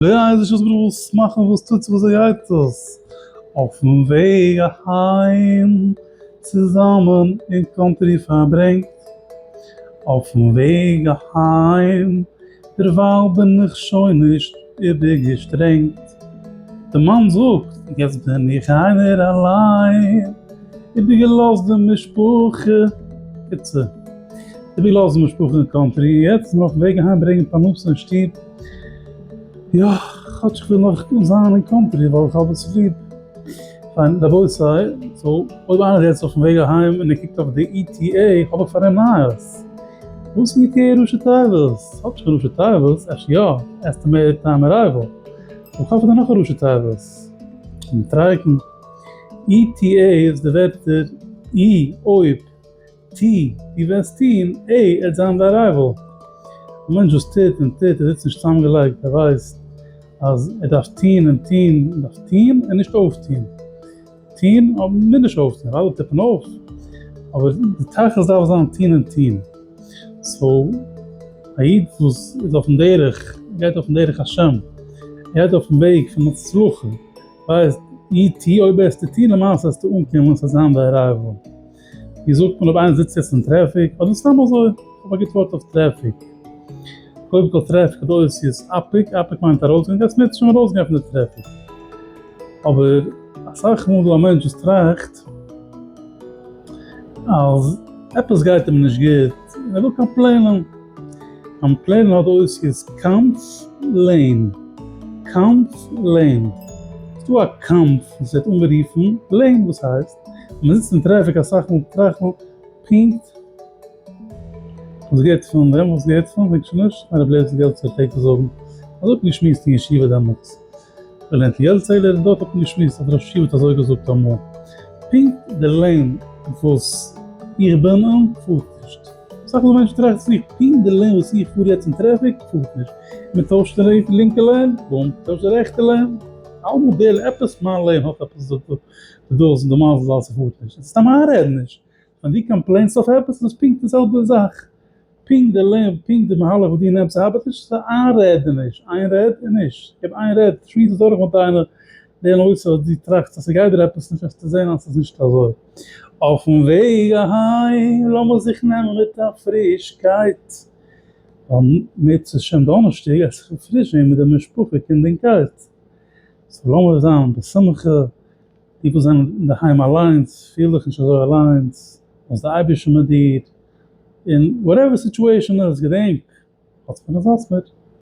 דער אייזישער ברוך וויל סמאכן וואס טוט זיך וואס גייט דאס אויפן וועג אהיים צוזאמען אין קאנטרי פארברענגט אויפן וועג אהיים דערווייל בין איך שוין נישט איבערגעשטרענגט דער מאן זאגט יעצט בין איך איינער אליין איבערגעלאזט די משפחה איצט איבערגעלאזט די משפחה אין קאנטרי יעצט נאר אויפן וועג אהיים ברענגען פרנסה אין שטוב. יא, כאטש כ'וויל נאך זיין אין קאנטרי ווייל איך האב עס ליב. פיין, רבותי, סאו אויב איינער איז יעצט אויפן וועג אהיים און ער קוקט אויף די אי טי עי, האב איך פאר אים נייעס. וואס איז מיט אי אר ראשי תיבות? ס'האט נישט קיין ראשי תיבות, אפשר יא, עסטימעיטעד טיים ארייוועל. אבער כ'האף ס'דא נאך א ראשי תיבות. מיט טרייעקן. אי טי עי איז די ווערטער אי, אויב. ט, דו וועסט טון? ע, ער וועט זיין די ארייוועל. א מענטש וואס טוט און טוט און זיצט נישט צוזאמגעלייגט, ער ווייסט אז ער דארף טון און טון, ער דארף טון און נישט אויפטון, טון אבער מער נישט אויפטון, ווייל אלע טופן אויף, אבער די תכלית דארף זיין טון און טון. סאו, א איד וואס איז אויפן דרך, גייט אויפן דרך השם, גייט אויפן וועג פון הצלחה, ווייסט, י ט אויב וועסטו טון למעשה וועסטו אנקומען, עס וועט זיין די ארייוועל. ווי זאגט מען אויב איינער זיצט יעצט אין טרעפיק אדער סתם אזוי איך האב א גוט ווארט אויף טרעפיק קודם כל טרעפיק האט אותיות אפיק אפיק מיינט ארויסגיין גייסט מער צו ארויסגיין פון די טרעפיק אבער אסאך מאל איז דא א מענטש וואס טראכט אז עפעס גייט אים נישט גוט און ער וויל קאמפלעינען קאמפלעינען האט אותיות קאמפלעין קאמפלעין ס'איז דא א קאמף וואס ווערט אנגערופן לעין וואס הייסט מען זיצט אין טרעפיק אסאך מאל טראכט מען פונקט וואס גייט פאר דעם וואס גייט פאר וועגן שוין נישט א רב לערנט געלט צו פלעגט ער זאגן אז האט געשמועסט אין ישיבה דעמאלטס ער לערנט געלט צו עלער און דארט האט מען געשמועסט אז דער ראש ישיבה האט אזוי געזאגט אמאל פונקט דער לעין וואס איך בין און פארט נישט אסאך מאל מענטשן טראכטן זיך פונקט דער לעין וואס איך פאר יעצט אין טרעפיק פארט נישט מען טוישט די לינקע לעין בום טוישט די רעכטע לעין אלעמאל דער עפעס מיין לעין האט עפעס. די דאס און די מאנס איז אלס ס'פארט נישט, סתם איינרעדן נישט, ווען די קאמפלעינסט אויף עפעס איז דאס פונקט די זעלבע זאך, פונקט די לעב, פונקט די מהלך וואס דו נעמסט ארבעט נישט, ס'איז א איינרעדעניש, איין רעד און נישט, גיב איין רעד, שמועס עס דורך מיט איינער, די נושא וואס דו טראכסט אז ס'גייט דיר עפעס נישט וועסטו זען אז ס'איז נישט אזוי. אויפן וועג אהיים לאמיר זיך נעמען מיט א פרישקייט, ווייל מוצ ש דאנערשטאג עס איך פון פריש ווען מיט די משפחה קינד און קייט, סאו לאמיר זיין בשמחה, די וואס זענען אינדערהיים אליינס, פיל דיך נישט אזוי אליינס, לאז די אייבערשטן מיט דיר, און וואטעווער די סיטועשאן איז, געדענק, האטס מיר און זאטס מיר.